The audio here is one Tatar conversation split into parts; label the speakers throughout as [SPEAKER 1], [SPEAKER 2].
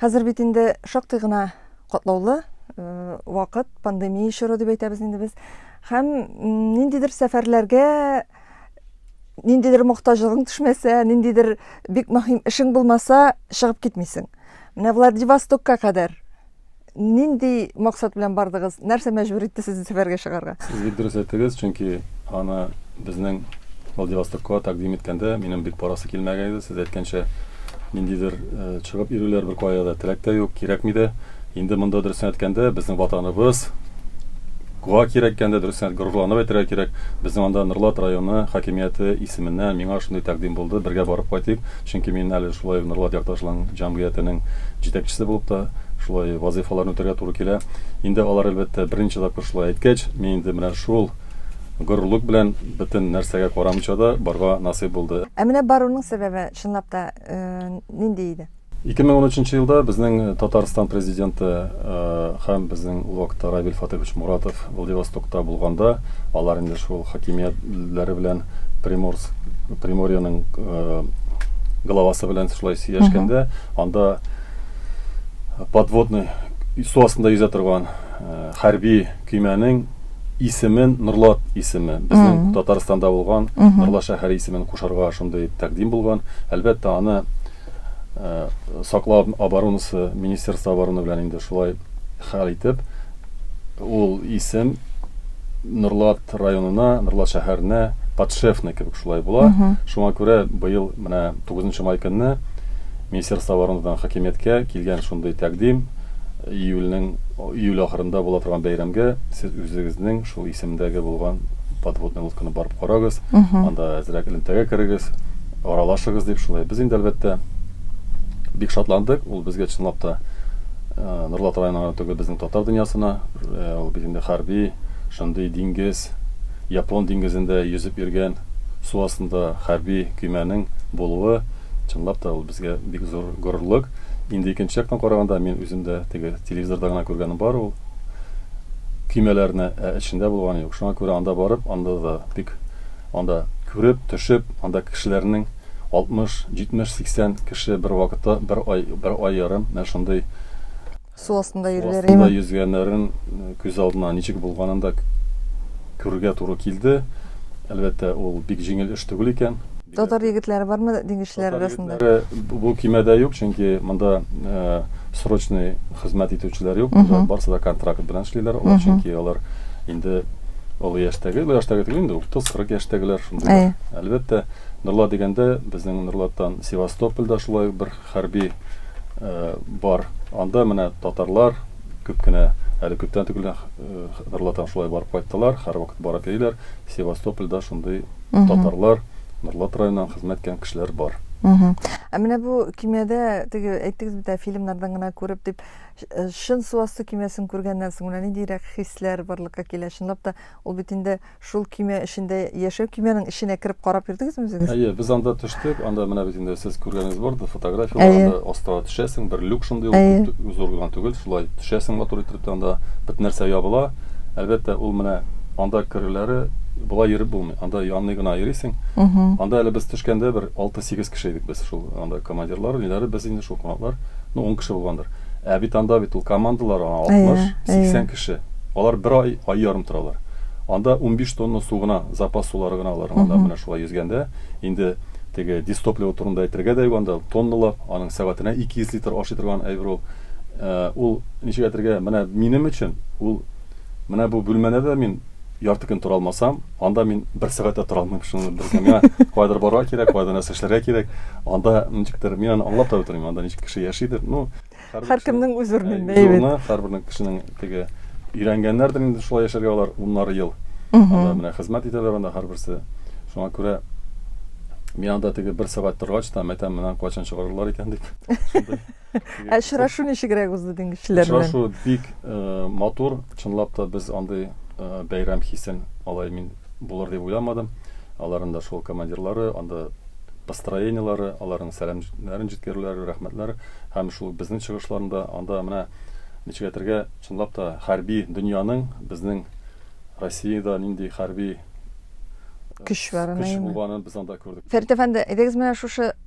[SPEAKER 1] Хәзер бит инде шактый гына катлаулы э, вакыт, пандемия чоры дип әйтәбез инде без. Һәм ниндидер сәфәрләргә ниндидер мохтаҗлыгың төшмәсә, ниндидер бик мөһим эшең булмаса, чыгып китмисең. Менә Владивостокка кадәр Нинди максат белән бардыгыз? Нәрсә мәҗбүр итте сезне сәфәргә чыгарга? Сез бик дөрес әйттегез,
[SPEAKER 2] чөнки аны безнең Владивостокка тәкъдим иткәндә минем бик барасы килмәгән иде. Сез әйткәнчә, ниндидер э, чыгып йөрүләр бер кая да теләк тә юк, кирәкми дә. Инде монда дөресен әйткәндә, безнең ватаныбыз, Куа кирәк икән дә, дөресен горурланып әйтергә кирәк. Безнең анда Норлат районы хакимияте исеменнән миңа шундый тәкъдим булды, бергә барып кайтыйк. Чөнки мин әле шулай Норлат Ярташлың җәмгыятенең җитәкчесе булып та шулай вазыйфаларны үтәргә туры килә. Инде алар, әлбәттә, берничә тапкыр шулай әйткәч, мин инде менә шул горурлык белән бөтен нәрсәгә карамыйча да барга насыйп булды. Ә менә баруның сәбәбе,
[SPEAKER 1] чынлап та, нинди иде? 2013 нче елда
[SPEAKER 2] безнең Татарстан Президенты һәм безнең ул вакытта Равил Фатыйхович Муратов Владивостокта булганда, алар инде шул хакимиятләре белән Приморск, Приморьеның э, главасы белән шулай сөйләшкәндә, анда подводный су астында йөзә торган э, хәрби көймәнең исемен Нурлат исеме, безнең Татарстанда булган Нурлат шәһәре исемен кушарга шундый тәкъдим булган. Әлбәттә, аны саклау оборонасы министерство обороны белән инде шулай хәл итеп ул исем Норлат районына, Норлат шәһәренә подшефный кебек шулай була. Шуңа күрә быел менә 9 май көнне Министерство оборонадан хакимияткә килгән шундый тәкъдим июльнең июль ахырында була торган бәйрәмгә сез үзегезнең шул исемдәге булган подводный лодканы барып карагыз, анда әзрәк элемтәгә керегез. Аралашыгыз дип шулай. Без инде, әлбәттә, бик шатландык. Ул безгә чынлап та Норлат районына гына түгел, безнең татар дөньясына. Ул бит инде хәрби, шундый диңгез, Япон диңгезендә йөзеп йөргән су астында хәрби көймәнең булуы, чынлап та, ул безгә бик зур горурлык. Инде икенче яктан караганда, мин үзем дә теге телевизорда гына күргәнем бар ул көймәләрне, ә эчендә булганым юк. Шуңа күрә анда барып, анда да бик Анда күреп, төшеп, анда кешеләрнең 60, 70, 80 кеше бер вакытта, бер ай, бер ай ярым менә шундый, Су
[SPEAKER 1] астында су йөриләр, астында әйеме? йөзгәннәрен
[SPEAKER 2] күз алдына ничек булганын да күрергә туры килде. Әлбәттә, ул бик җиңел эш түгел икән. Татар егетләре
[SPEAKER 1] бармы диңгезчеләр Татар арасында? егетләре бу көймәдә
[SPEAKER 2] юк, чөнки монда срочный хезмәт итүчеләр юк, монда барысы да контракт белән эшлиләр, алар чөнки алар инде, Олы яшьтәге, олы яшьтәге түгел инде, 30-40 яшьтәгеләр шундыйлар. Әлбәттә, Нурла дигәндә, безнең Нурлаттан Севастопольдә шулай бер хәрби бар. Анда менә татарлар күп кенә, әле күптән түгел Нурлаттан шулай барып кайттылар, һәрвакыт барып йөриләр. Севастопольдә шундый татарлар, Нурлат районыннан хезмәт иткән кешеләр бар. Ә менә
[SPEAKER 1] бу кинода, теге әйттегез бит әле, фильмнардан гына күреп дип, Чын су асты көймәсен күргәннән соң менә ниндирәк хисләр барлыкка килә? Чынлап та, ул бит инде шул көймә эчендә яшәү. Көймәнең эченә кереп карап йөрдегезме үзегез? Әйе, без анда төштек.
[SPEAKER 2] Анда менә бит инде сез күргәнегез бардыр фотографияләр. Әйе. Анда астага төшәсең, бер люк шундый, ул күп тө, зур гына түгел, шулай төшәсең матур иттереп тә анда бөтен нәрсә ябыла. Әлбәттә, ул менә анда керүләре болай йөреп булмый, анда янный гына йөрисең. Анда әле без төшкәндә бер алты-сигез кеше идек без, шул анда командирлар, ниләре, без инде шул кунаклар. Ну, ун кеше булгандыр. Ә бит анда бит ул командалар, аңа 60, 80 кеше. Алар бер ай, ай ярым торалар. Анда унбиш тонна су гына, запас сулары гына алар. Анда менә шулай йөзгәндә, инде теге дистопливо турында әйтергә дә юк, анда тонналап, аның сәгатенә 200 литр ашый торган әйбер ул. Ул, ничек әйтергә, менә минем өчен ул, менә бу бүлмәне дә мин, ярты көн тора алмасам, анда мин бер сәгать тә тора алмыйм, шуны белдем. Миңа кайдыр барырга кирәк, кайда нәрсә эшләргә кирәк. Анда ничектер мин аны аңлап та бетермим, анда ничек кеше яшидер. Ну, һәркемнең үз
[SPEAKER 1] урынында әйбәт. Һәрбернең кешенең
[SPEAKER 2] теге өйрәнгәннәрдер инде шулай яшәргә алар уннары ел. Анда менә хезмәт итәләр анда һәрберсе. Шуңа күрә мин анда теге бер сәгать торгач та мәтәм менә кайчан чыгарырлар икән дип. Ә очрашу
[SPEAKER 1] ничегрәк узды дин кешеләр белән? Очрашу бик э,
[SPEAKER 2] матур. Чынлап та без андый э, бәйрәм хисен алай мин булыр дип уйламадым. Аларның да шул командирлары, анда построениелары, аларның сәламнәрен җиткерүләре, рәхмәтләре һәм шул безнең чыгышларында анда менә ничек әйтергә, чынлап та хәрби дөньяның безнең Россиядә нинди хәрби
[SPEAKER 1] Көч бар, көч әйеме? булганын без анда
[SPEAKER 2] күрдек.
[SPEAKER 1] Фәрит
[SPEAKER 2] әфәнде, әйдәгез менә
[SPEAKER 1] шушы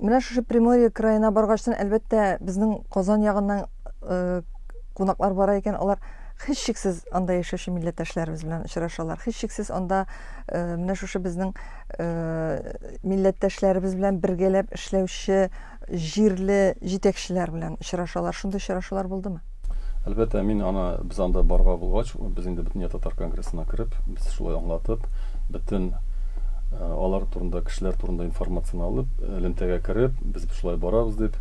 [SPEAKER 1] Менә шушы Приморье краена баргачтан, әлбәттә, безнең Казан ягыннан э, кунаклар бара икән, алар һичшиксез анда яшәүче милләттәшләребез белән очрашалар. Һичшиксез анда э, менә шушы безнең э, милләттәшләребез белән бергәләп эшләүче җирле җитәкчеләр белән очрашалар. Шундый очрашулар булдымы? Әлбәттә, мин
[SPEAKER 2] аны, без анда барга булгач, без инде Бөтендөнья татар конгрессына кереп, без шулай аңлатып, бөтен алар турында, кешеләр турында информацияне алып, элемтәгә кереп, без шулай барабыз дип,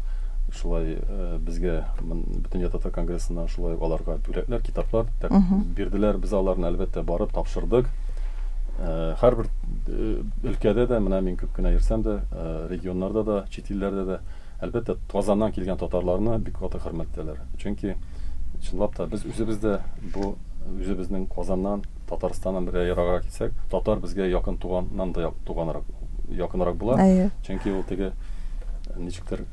[SPEAKER 2] шулай безгә Бөтендөнья татар конгрессына шулай аларга бүләкләр, китаплар бирделәр. Без аларны, әлбәттә, барып тапшырдык. Һәрбер өлкәдә дә, менә мин күп кенә йөрсәм дә, регионнарда да, чит илләрдә дә Әлбәттә, Казаннан килгән татарларны бик каты хөрмәтләләр. Чөнки, чынлап та, без үзебез дә бу үзебезнең Казаннан, Татарстаннан бергә ераграк китсәк, татар безгә якын туганнан да туганрак, якынрак була. Әйе. Чөнки ул теге ничектер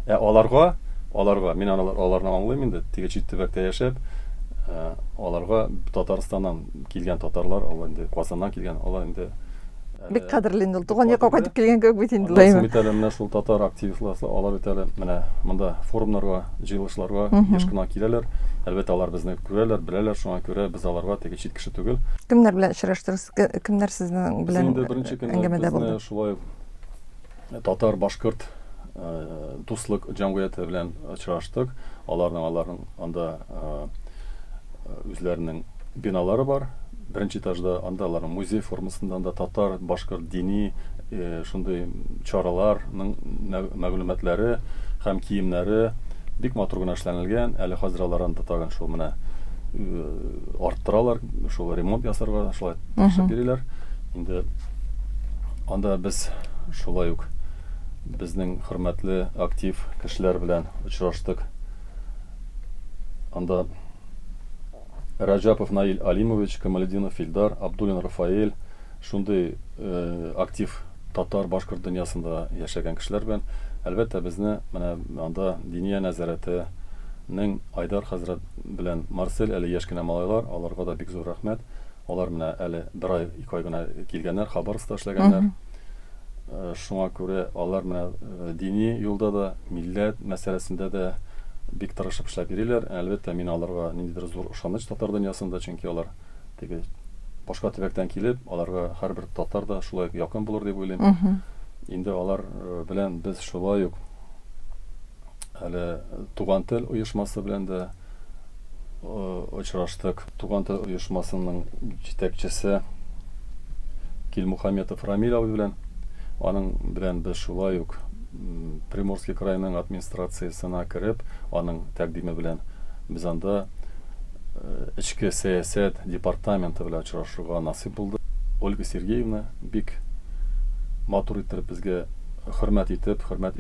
[SPEAKER 2] Ә аларга, аларга, мин алар, аларны аңлыйм инде, теге чит төбәктә яшәп, ә, аларга Татарстаннан килгән татарлар, алар инде Казаннан килгән, алар инде Бик кадерле
[SPEAKER 1] инде ул. Туган якка кайтып килгән кебек бит инде. Алар бит әле менә шул татар
[SPEAKER 2] активистлары, алар бит әле менә монда форумнарга, җыелышларга еш кына киләләр. Әлбәттә, алар безне күрәләр, беләләр, шуңа күрә без аларга теге чит кеше түгел. Кемнәр белән очраштыгыз?
[SPEAKER 1] Кемнәр сезнең белән әңгәмәдә булды? Без инде беренче
[SPEAKER 2] көнне безне шулай
[SPEAKER 1] ук
[SPEAKER 2] Татар-башкорт дуслык җәмгыяте белән очраштык. Аларның аларның анда үзләренең биналары бар. Беренче этажда анда аларның музей формасында анда татар, башкорт дини шундый чараларның мәгълүматлары һәм киемнәре бик матур гына эшләнелгән. Әле хәзер алар анда тагын шул менә арттыралар, шул ремонт ясарга шулай төшеп йөриләр. Инде Анда без шулай ук безнең хөрмәтле актив кешеләр белән очраштык. Анда Раҗапов Наил Алимович, Камалединов Филдар, Абдулин Рафаэль, шундый э, актив татар, башкорт дөньясында яшәгән кешеләр белән, әлбәттә, безне менә анда Диния нәзарәтенең Айдар хәзрәт белән Марсель әле яшь кенә малайлар, аларга да бик зур рәхмәт. Алар менә әле бер ай, ике ай гына килгәннәр, Хабаровскта эшләгәннәр. Шуңа күрә алар менә дини юлда да, милләт мәсьәләсендә дә бик тырышып эшләп йөриләр. Әлбәттә, мин аларга ниндидер зур ышаныч татар дөньясында, чөнки алар теге башка төбәктән килеп, аларга һәрбер татар да шулай ук якын булыр дип уйлыйм. Инде алар белән без шулай ук әле Туган тел оешмасы белән дә очраштык. Туган тел оешмасының җитәкчесе Килмухаметов Рамил абый белән, аның белән без шулай ук Приморский крайның администрациясенә кереп, аның тәкъдиме белән без анда эчке сәясәт департаменты белән очрашырга насыйп булды. Ольга Сергеевна бик матур иттереп безгә хөрмәт итеп, хөрмәт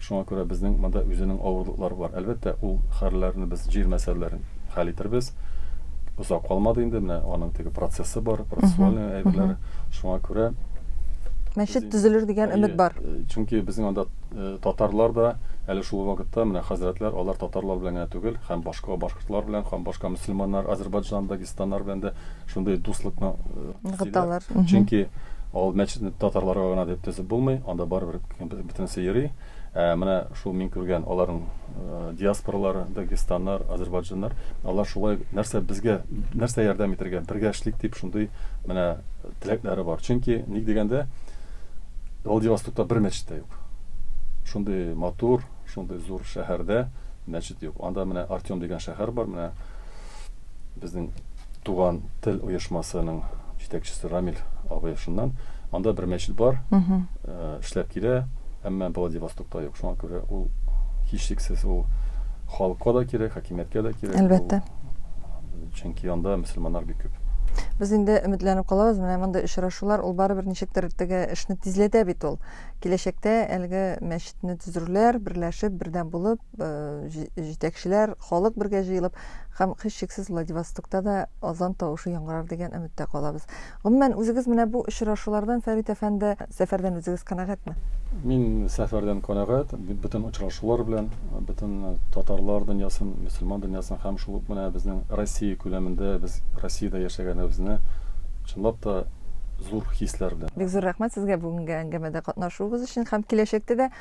[SPEAKER 2] Шуңа күрә безнең монда үзенең авырлыклары бар. Әлбәттә, ул хәлләрне без җир мәсьәләләрен хәл итербез. Озак калмады инде, менә аның теге процессы бар, процессуальный әйберләр. Шуңа күрә Мәчет
[SPEAKER 1] төзелер дигән өмет бар. Чөнки безнең анда
[SPEAKER 2] татарлар да әле шул вакытта менә хәзрәтләр, алар татарлар белән генә түгел, һәм башка башкортлар белән, һәм башка мөселманнар, Азербайджан, Дагестаннар белән дә шундый дуслыкны ныгыталар.
[SPEAKER 1] Чөнки
[SPEAKER 2] ал мәчетне татарларга гына дип төзеп булмый, анда барыбер Бөтенесе йөри. Ә менә шул мин күргән аларның э, диаспоралары, дагестаннар, азербайджаннар, алар шулай нәрсә безгә, нәрсә ярдәм итәргә, бергә эшлик дип шундый менә теләкләре бар. Чөнки ник дигәндә Владивостокта бер мәчет тә юк. Шундый матур, шундый зур шәһәрдә мәчет юк. Анда менә Артем дигән шәһәр бар, менә Безнең Туган тел оешмасының җитәкчесе Рамил абый шуннан. Анда бер мәчет бар, эшләп килә, әмма Владивостокта юк. Шуңа күрә ул һичшиксез ул халыкка да кирәк, хакимияткә дә кирәк. Әлбәттә.
[SPEAKER 1] Чөнки
[SPEAKER 2] анда мөселманнар бик күп. Без инде
[SPEAKER 1] өметләнеп калабыз, менә мондый очрашулар, ул барыбер ничектер теге эшне тизләтә бит ул. Киләчәктә әлеге мәчетне төзерләр, берләшеп, бердәм булып. җитәкчеләр, халык бергә җыелып һәм һичшиксез Владивостокта да азан тавышы яңгырар дигән өметтә калабыз. Гомумән, үзегез менә бу очрашулардан, Фәрит әфәнде, сәфәрдән үзегез канәгатьме? Мин
[SPEAKER 2] сәфәрдән канәгать, бөтен очрашулар белән, бөтен татарлар дөньясын, мөселман дөньясын һәм шул ук менә безнең Россия күләмендә, без Россиядә яшәгәнебезне чынлап та зур хисләр белән. Бик зур рәхмәт сезгә бүгенге
[SPEAKER 1] әңгәмәдә катнашуыгыз өчен һәм киләчәктә дә